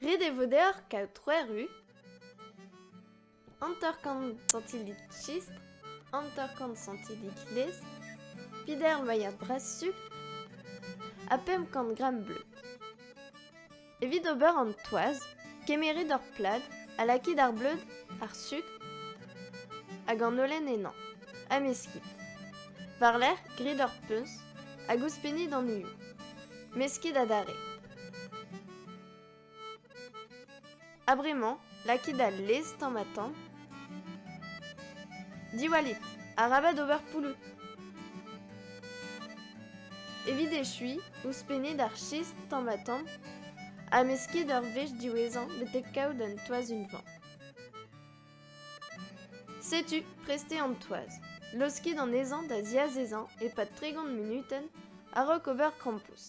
Ret e vo deoc'h kaout trois rues, hanter-kant santilik chistr, hanter-kant santilik laezh, pider mailhad bras-sukr ha pemp kant gramm bleud. Evit ober an toaz, kemeret ur plad ha lakit ar bleud, ar sukr hag an holen ennañ, ha meskit. War-lerc'h, grit ur puñs hag ouzhpennit an hiziv. Meskit adarre. Ha bremañ, lakit al lez tamm ha tamm. Diwallit, arabat ober pouloù. Evit echuiñ, ouzhpennit ar chist tamm ha tamm, ha meskit ur wech diwezhañ betek kaout un toaz unvan. Setu, prestez an toaz. Laoskit anezhañ da ziazezañ e-pad tregont munutenn a-raok ober krampouezh.